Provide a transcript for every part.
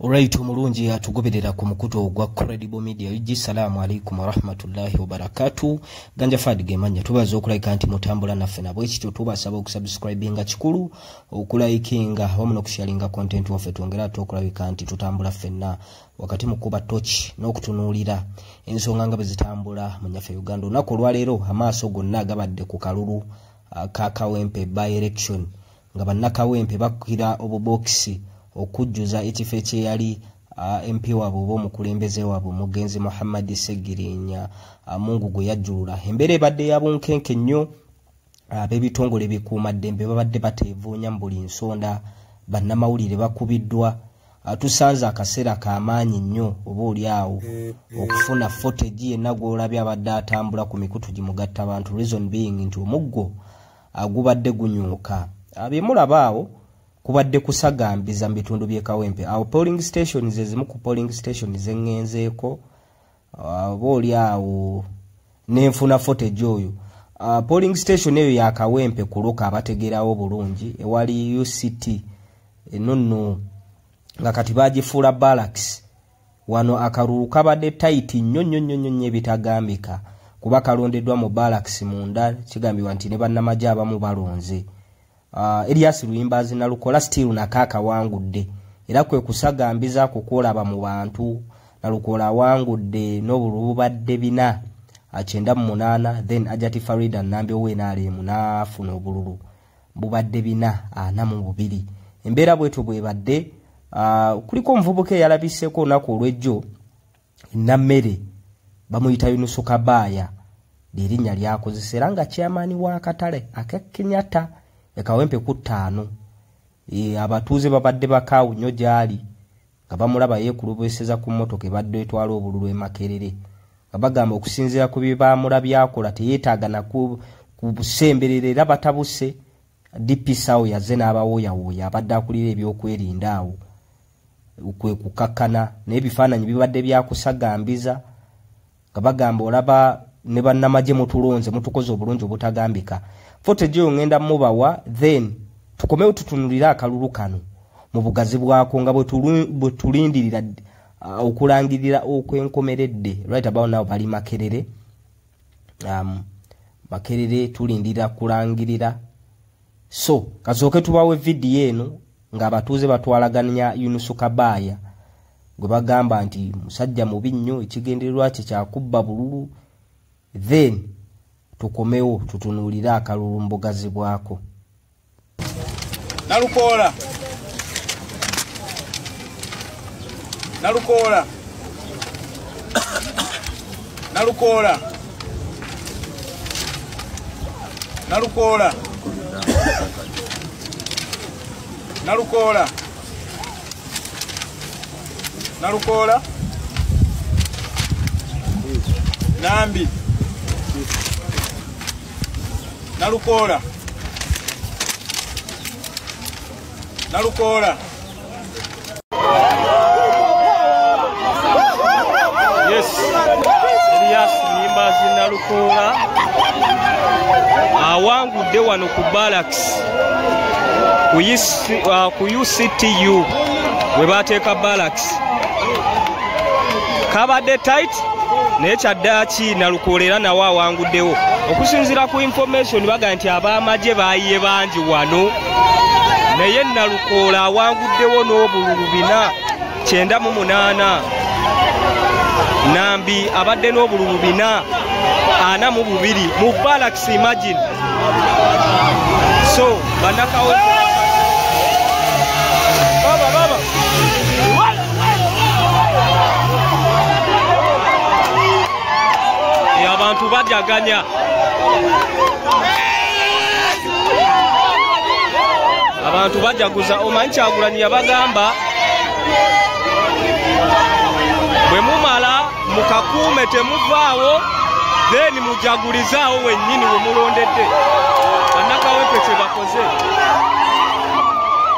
Alright omulungi atugoberera ku mukutu ogwa Credible Media UG salaamu alaikum warahmatullahi wabarakatuh ganja fadi gemanya tubaza okulaika nti mutambula naffe nabwe kityo tubasaba okusubscribinga kikulu okulaikinga wamu nokusharinga content waffe twongera ate okulabika nti tutambula ffenna wakati mu kuba toki n'okutunuulira ensonga nga bwe zitambula mu nyaffe uganda olunaku olwaleero amaaso gonna gabadde ku kalulu ah, ka kawempe by election nga bannakawempe bakukira obubookisi okujjuza ekifo ekyeyali mp waabwe oba omukulembeze waabwe omugenzi muhammadi segirinya mungu gwe yajjulula embeera ebadde ya bunkenke nnyo ab'ebitongole bikuuma ddembe babadde bateevuunya mu buli nsonda bannamawulire bakubiddwa tusanze akaseera kamaanyi nnyo oba oli awo okufuna fotegi yenna gw'olabye abadde atambula ku mikutu gimugatta bantu reason being nti omuggo agubadde gunyuuka byemulaba awo kubadde kusagambiza mu bitundu by'e kawempe awo polling station ze zimu ku polling station ze ŋŋenzeeko oba oli awo nenfuna fotage oyo uh, polling station eyo ya kawempe kuluka abategeerawo bulungi ewali uct enonno nga kati bagifuula balaks Wano akalulu kabadde tayiti nnyo nnyo nnyo nnyo ebitagambika kuba kalondeddwa mu balakisi munda kigambibwa nti ne bannamagye abamu balonze uh, Elias Luyimbazi nalukola still nako akawangudde era kwe kusagambiza ku kwolaba mu bantu nalukola awangudde n'obulububadde bina akyenda mu munaana then ajati Farida Nambi ow'enaalimu n'afuna obululu bubadde bina ana mu bubiri embeera bwetyo bwebadde ah, kuliko omuvubuka eyalabiseko olunaku olwejjo nammere bamuyita yunusu kabaaya lyerinnya lyakozesa era nga kyamaani w'akatale akekenyata ekawempe ku ttaano e, abatuuze babadde bakaawu nnyo gy'ali nga bamulaba yeekulubeseza ku mmotoka ebadde etwala obululu e makerere nga bagamba okusinziira ku bye baamula byakola teyeetaaga naku ku busemberera era batabuse dpc awo yaze n'abawooyawooya abadde akulira ebyokwerinda awo kwe kukakkana naye ebifaananyi bibadde byakusagambiza nga bagamba olaba ne bannamagye mutulonze mutukoze obulungi obutagambika fotejeyo ngenda mubawa then tukomewo tutunulire akalulu kano mu bugazi bwako nga bwe tulindirira uh, okulangirira okwenkomeredde right about now bali makerere um, makerere tulindira kulangirira so kasooke tubawo evidiyo eno ng'abatuuze batwalaganya yunusu kabaaya gwe bagamba nti musajja mubi nnyo ekigendererwa kye kyakubba bululu then tukomewo tutunuulire akalulu mbugazi bwako nalukoola nalukoola nalukoola nalukoola nalukoola nalukoola nambi nalukoola nalukoola yes elias nyimbazi nalukoola awangudde wano ku balaks ku uctu uh, we bateeka balaks kabadde tit naye kyaddaaki nalukoola era nawe awanguddewo okusinziira ku information bagamba nti abaamagye baayiye bangi wano naye nalukoola awanguddewo n'obululu bina kyenda mu munaana nambi abadde n'obululu bina ana mu bubiri mu balax imagine so banakawo abantu bajaganya abantu bajaguza omanyi kyagulanyi yabagamba bwe mumala mukakuume temuvaawo then mujagulizaawo wennyini wemulondedde bannakawempe kyebakoze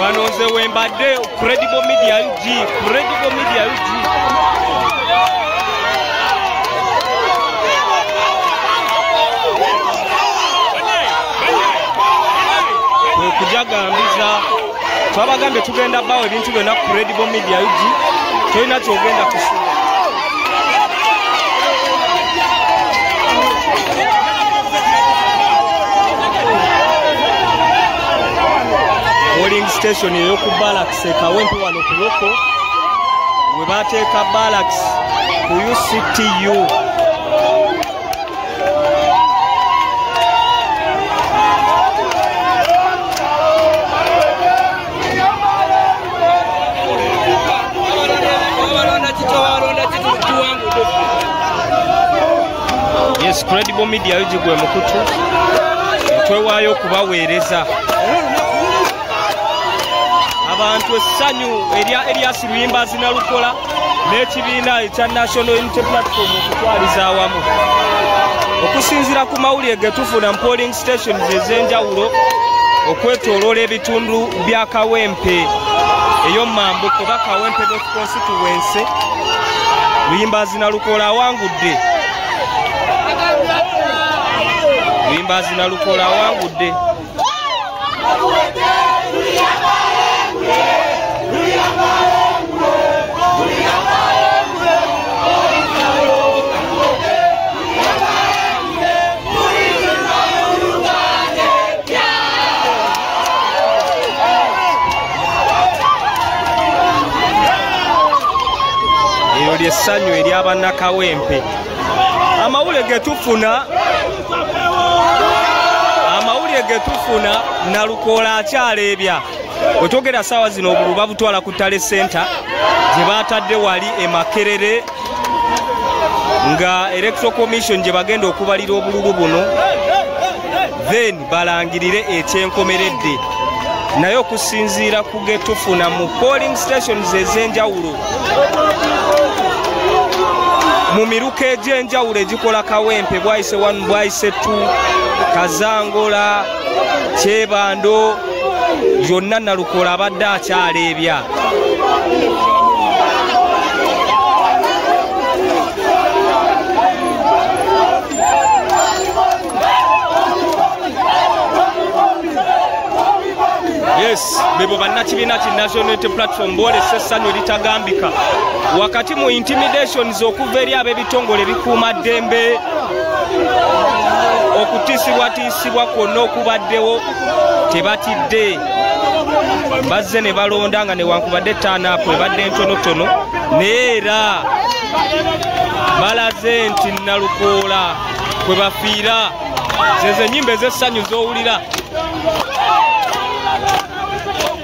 wano nze wembadde credible media ug credible media ug okujagambiza twabagambye tugenda bawo ebintu byonna credible media ug tolina kyogenda kusula polling station eyoku balaks ekawempe wano ku loko we bateeka balaks ku uctu yes credible media yo gigwe mukutu twewaayo okubaweereza abantu essanyu erya elias luyimba zinalukola n'ekibiina ekya national unity platform okutwaliza awamu okusinziira ku mawulire getufuna mu polling stations ez'enjawulo okwetoloola ebitundu bya kawempe ey'omumambu kuba kawempe constituency luyimbazina lukoola awangudde luyimbazina lukoola awangudde eryo lyessanyu eryabannakawempe amawule getufuna amawulire getufuna nalukoola akyaleebya wetwogera saawa zino obulu babutwala ku tale senta gye batadde wali emakerere nga electro commission gye bagenda okubalira obululu buno then balangirire ekyenkomeredde naye okusinziira ku getufuna mu polling stations ez'enjawulo mu miruka egy'enjawulo egikola kawempe bwayise 1 bwayise 2 kazangola kyebando yonna nalukola abadde akyaleebya yes bebo bannakibiina ki national unity platform boolesa essanyu eritagambika wakati mu intimidations okuva eri ab'ebitongole bikuuma ddembe okutiisibwatiisa okusibwa kwonna okubaddewo tebatidde bazze ne balonda nga newankubadde etaanaapu ebadde ntonotono naye era balaze nti nalukoola kwe bafiira zezo enyimba ez'essanyu z'owulira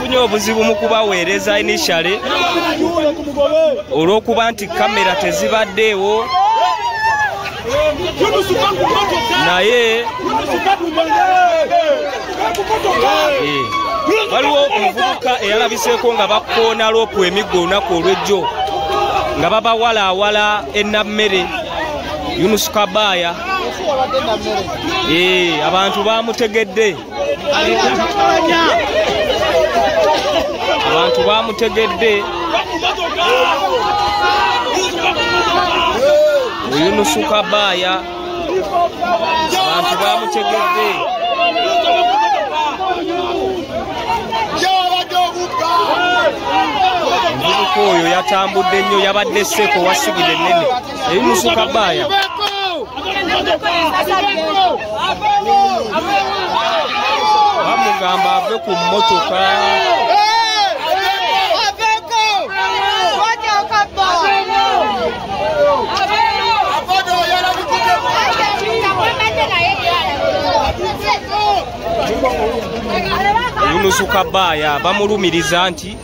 tufunye obuzibu mu kubaweereza initiale olw'okuba nti kamera tezibaddeewo naye eh, waliwo omuvubuka eyalabiseeko nga bakoona loopu emiggo olunaku olwejjo nga babawalaawala enammere yunusukabaaya eh, abantu bamutegedde abantu bamutegedde oyunusu kabaaya abantu bamutegedde omuvubuka oyo yatambudde nnyo yabadde seeko wasigire ennene ebimusuka baaya bamugamba ave ku mmotoka yunusu kabaaya bamulumiriza nti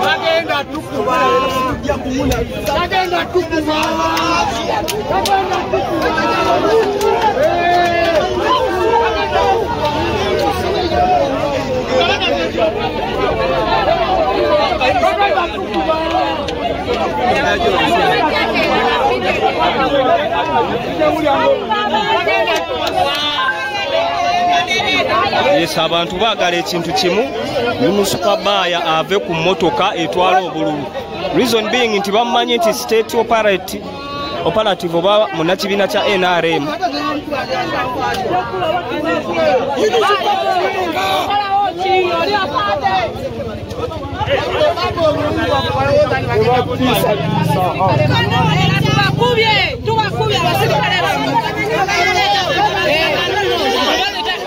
Bagenda tukuba. Bagenda tukuba. Bagenda Yes, abantu bagala ekintu kimu munusupabaya ave ku motoka etwala obululu reason being nti bamumanyi nti state operate operative oba munakibiina kya nrm tubakubye tubakubye abasirikale bamwe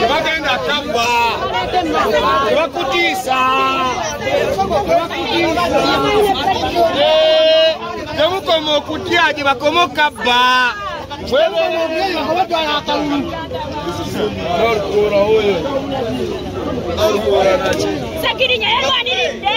tebagenda tabba tebakutiisa temukoma okutya gye bakoma okabba Sakirinya yalwaniridde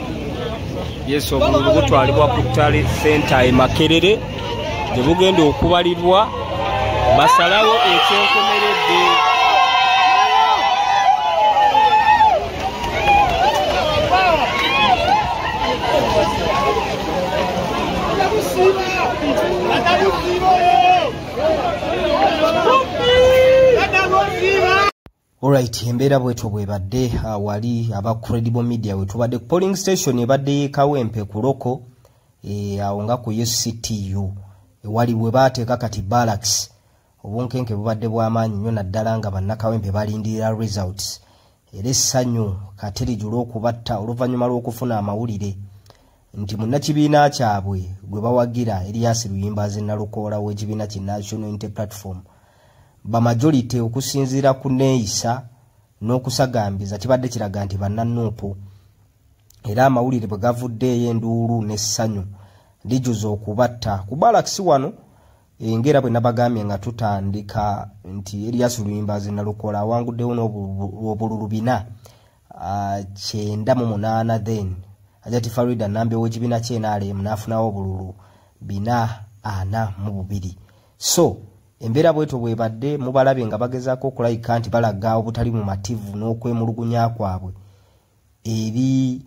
yes obululu butwalibwa ku tale senta e makerere gye bugenda okubalirwa basalawo ekyenkomeredde Alright, embeera bwetyo bwebadde uh, wali aba credible media wetubadde ku polling station ebadde yekawempe ku loko eh, awo nga ku UCTU ewali bwe baateeka kati balax obunkenke bubadde bw'amaanyi nnyo naddala nga bannakawempe balindirira results era essanyu katerijula okubatta oluvannyuma lw'okufuna amawulire nti munnakibiina kyabwe gwe bawagira eriyasi luyimba ze nalukoola w'ekibiina ki national inte platform bamajority okusinziira ku neeyisa n'okusagambiza kibadde kiraga nti bannanuupu era amawulire bwe gavuddeeyo enduulu n'essanyu lijuza okubatta ku balakisi wano engera bwe nabagambye nga tutandika nti erias luyimbazi nalukola awanguddewo n'obululu bina ah, kyenda mu munaana then ajati farida nambi ow'ekibiina kyenaalemu n'afunawo obululu bina ana mu bubiri so embeera bwetyo bwebadde mubalabye nga bagezaako okulayika nti balaga obutali mu mativu n'okwemulugunya kwabwe eri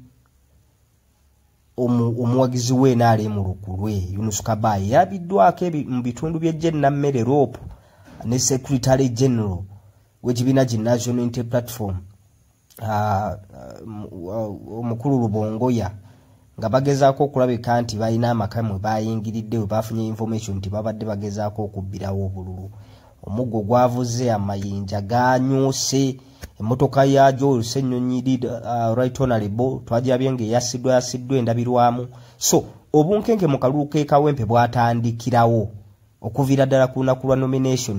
omuwagizi we naali mu lukulwe yunus kabayi yabiddwako mu bitundu by'ejjennammere rope ne secretary general w'ekibiina ki national inter platform ah, uh, omukulu lubongoya nga bagezaako okulabika nti balina amaka mwe bayingiridde we bafunye information nti babadde bagezaako okubbirawo obululu omuggo gwavuze amayinja ganyuuse emmotoka ya joel senyonyi did uh, right honorable twagirabye nga eyasiddwa yasiddwa endabirwamu so obunkenke mu kalulu k'ekawempe bwatandikirawo okuviira ddala ku lunaku lwa nomination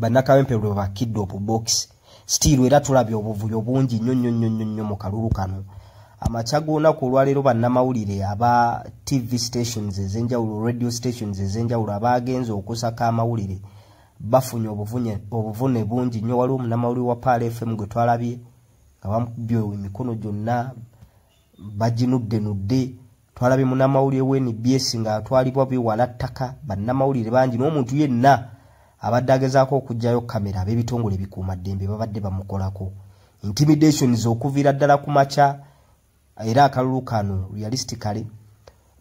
bannakawempe lwe bakidde opu bokisi sitiiru era tulabye obuvuyo bungi nnyo nnyo nnyo nnyo nnyo mu kalulu kano amakya g'olunaku olwaleero bannamawulire aba tv stations ez'enjawulo radio stations ez'enjawulo abaagenze okusaka amawulire bafunye obuvune bungi nnyo waliwo omunamawulire wa paal fm gwe twalabye nga bamukubye emikono gyonna baginuddenudde twalabye munamawulire wa nbs nga atwalibwa biwala ttaka bannamawulire bangi n'omuntu yenna abadde agezaako okugyayo kamera ab'ebitongole bikuuma ddembe babadde bamukolako intimidations okuviira ddala ku makya era akalulu kano realistically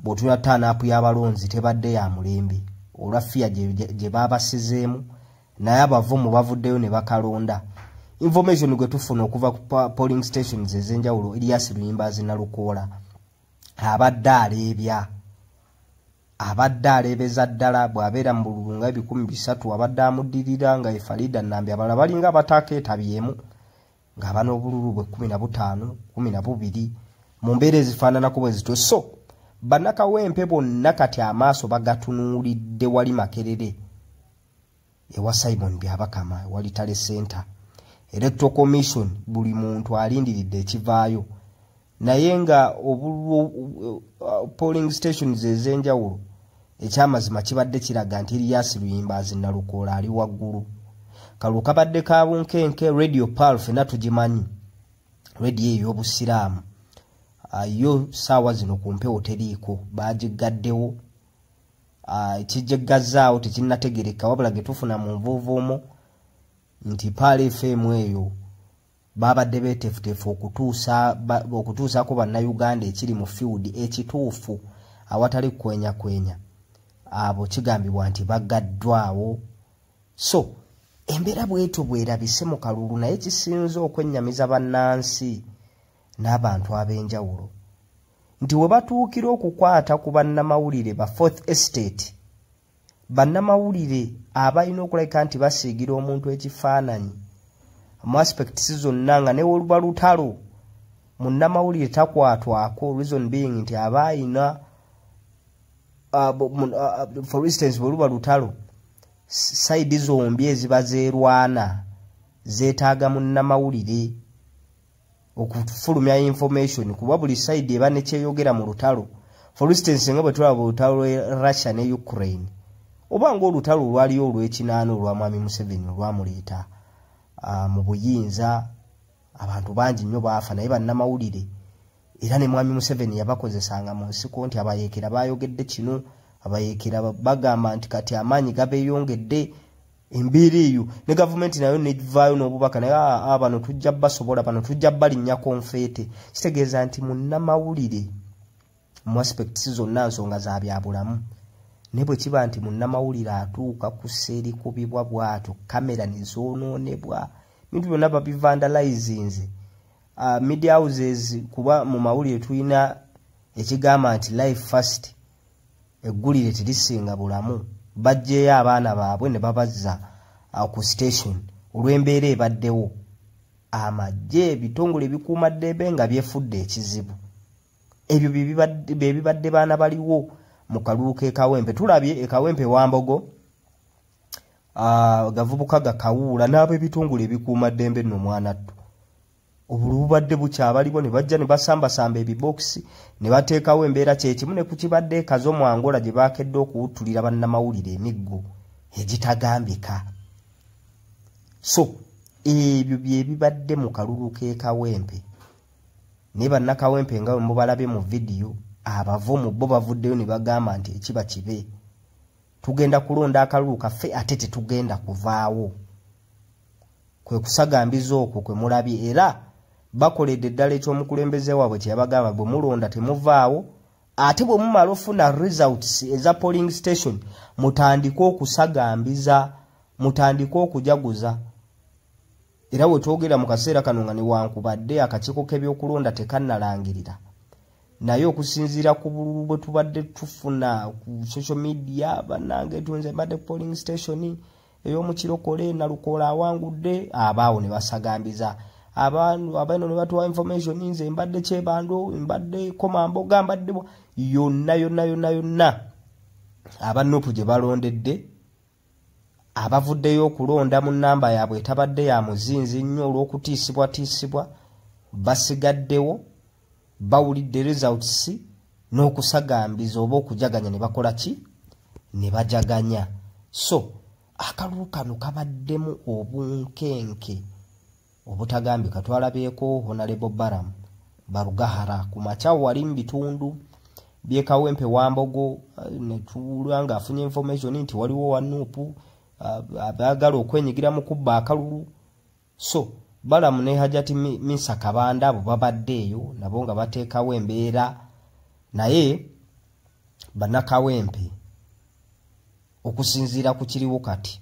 bw'otuna taanaapu y'abalonzi tebadde ya mulembe olwa fiya gye baabasizeemu naye abavumu bavuddeyo ne bakalonda information gwe tufuna okuva ku polling stations ez'enjawulo elias luyimba azinalukoola abadde aleebya abadde aleebeza ddala bw'abeera mu bululu nga ebikumi bisatu abadde amuddirira nga efalida nambi abala balinga abataaka etabyemu ng'aba n'obululu bwe kumi na butaano kumi na bubiri mu mbeera ezifaananako bwe zityo so bannakawempe bonna kati amaaso bagatunuulidde wali makerere ewa simon byabakama ewalitale center electoral commission buli muntu alindiridde ekivaayo naye nga polling stations ezenjawulo ekyamazima kibadde kiraga nti eriyasi luyimba azinalukoola ali waggulu kalwo kabadde ka bunkenke radio pal fena tugimanyi radio ey'obusiraamu ah, yo saawa zino ku mpewo teriiko baagiggaddewo ah, ekijegazaawo tekinategereka wabula getufuna mu nvuuvuumo nti paala efm eyo babadde betefutefu okutuusaako bannayuganda ekiri mu field ekituufu awatali kukwenya kwenya abo kigambibwa nti bagaddwawo so embeera bwetyo bwerabise mu kalulu naye kisinze okwennyamiza bannansi n'abantu ab'enjawulo nti we batuukira okukwata ku bannamawulire ba fourth estate bannamawulire abalina okulabika nti basiigira omuntu ekifaananyi mu aspects zonna nga newoluba lutalo munnamawulire takwatwako reason being nti aba ayina uh, uh, for instance bweluba lutalo saidi zombi eziba zerwana zetaaga munnamawulire okufulumya information kuba buli side eba nekyeyogera mu lutalo for instance nga bwe tulaba olutalo lwe russia ne ukraine oba ngaolutalo olwaliyo olwekinaana olwa mwami museveni olwamuleeta uh, mu buyinza abantu bangi nnyo baafa naye bannamawulire era ne mwami museveni yabakozesanga mu nsiko nti abayeekera bayogedde kino abayeekera bagamba nti kati amaanyi gabeyongedde embeera eyo ne gavumenti nayo nevaayo n'obubaka naye aa ah, ah, bano tujja basobola bano tujja balinnya konfeete kitegeeza nti munnamawulire mu aspects zonna nsonga za byabulamu naye bwe kiba nti munnamawulire atuuka ku seerikubibwa bwatyo kamera ne zoonoonebwa bintu byonna babivandalizinze ah, media houses kuba mu mawulire tulina ekigamba nti life first eggulire tirisinga bulamu bajjeeyo abaana baabwe ne babazza uh, ku station olw'embeera ebaddewo amagye ebitongole ebikuuma ddembe nga byefudde ekizibu ebyo bye bibadde baana baliwo mu kalulu k'ekawempe tulabye ekawempe wambogo uh, gavubuka gakawuula n'ab'ebitongole ebikuuma ddembe nno mwanattu obulu bubadde bukyabaliwo ne bajja ne basambasamba ebibookisi ne bateekawo embeera kyekimu ne ku kibadde ekazo mu angola gye baakedde okuwuttulira bannamawulire emiggo egitagambika so ebyo bye bibadde mu kalulu k'ekawempe naye bannakawempe nga bwe mubalabye mu vidiyo abavo mu bo bavuddeyo ne bagamba nti ekiba kibe tugenda kulonda akalulu kaffe ate tetugenda kuvaawo kwe kusagambiza okwo kwe mulabye era bakoledde eddala ekyomukulembeze waabwe kyeyabagamba bwe mulonda temuvaawo ate bwe mumala ofuna results eza polling station mutandike okusagambiza mutandike okujaguza era wetwogera mu kaseera kano nga newankubadde akakiiko k'ebyokulonda tekannalangirira naye okusinziira ku bululu bwe tubadde tufuna ku social media banange tunze mbadde polling station ey'omukirokole nalukoola awangudde abaawo ne basagambiza abantu abaino ne batuwa information nze mbadde kyebando mbadde komamboga mbadde yonna yonna yonna yonna abanupu gye balondedde abavuddeyo okulonda mu nnamba yaabwe etabadde ya muzinzi nnyo olw'okutiisibwatiisibwa basigaddewo bawulidde results n'okusagambiza oba okujaganya ne bakola ki ne bajaganya so akalulu kano kabaddemu obunkenke obutagambika twalabyeko honalebo baram barugahara ku makya wali mu bitundu byekawempe wambogo eh, netulwa nga afunye information nti waliwo wanupu eh, abagala okwenyigira mu kubba akalulu so balamu ne hajati misa kabanda abo babadde eyo nabo nga bateekawo embeera naye banakawempe okusinziira ku kiriwo kati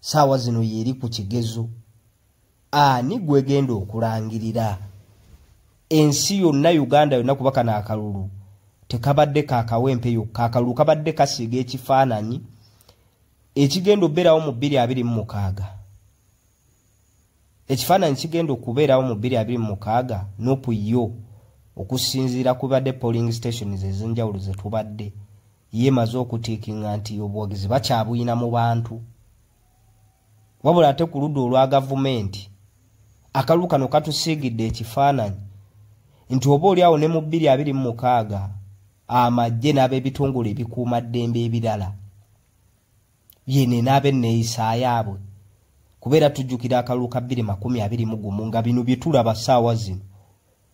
saawa zino yeeri ku kigezo ani gwegenda okulangirira ensi yonna uganda yonna kuba kano akalulu tekabadde kakawempe yokka akalulu kabadde kasiiga ekifaananyi ekigenda okubeerawo mu bbiri abiri mu mukaaga ekifaananyi kigenda okubeerawo mu bbiri abiri mu mukaaga nopu yo okusinziira kubadde polling stations ezenjawulo zetubadde yeemaze okutiikinga nti obuwagizi bakyabuyina mu bantu wabula ate ku ludda olwa gavumenti akalulu kano katusiigidde ekifaananyi nti oba oli awo ne mu bbiri abiri mu mukaaga amagye n'ab'ebitongole ebikuuma ddembe ebirala yene n'abenneeyisayaabwe kubeera tujjukira akalulu ka bbiri makumi abiri mu gumu nga bino bye tulaba ssaawa zino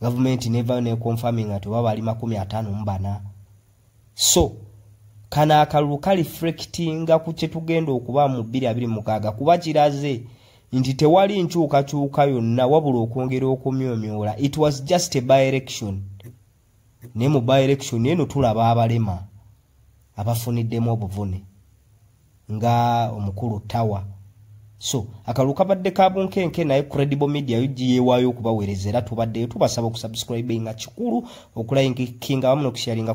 gavumenti nevayo neconfirmi nga tewaba bali makumi atano mubana so kano akalulu kalifrectinga ku kyetugenda okuba mu bbiri abiri mukaaga kuba kiraze nti tewali nkyukakyuka yonna wabula okwongera okumyomyola it was just a by election naye mu by election eno tulaba abalema abafuniddemu obuvune nga omukulu tawa so akalulu kabadde ka bunkenke naye credible media ug yewaayo okubaweereza era tubaddeyo tubasaba okusubscribinga kikulu okulainga kinga wamu nokusharinga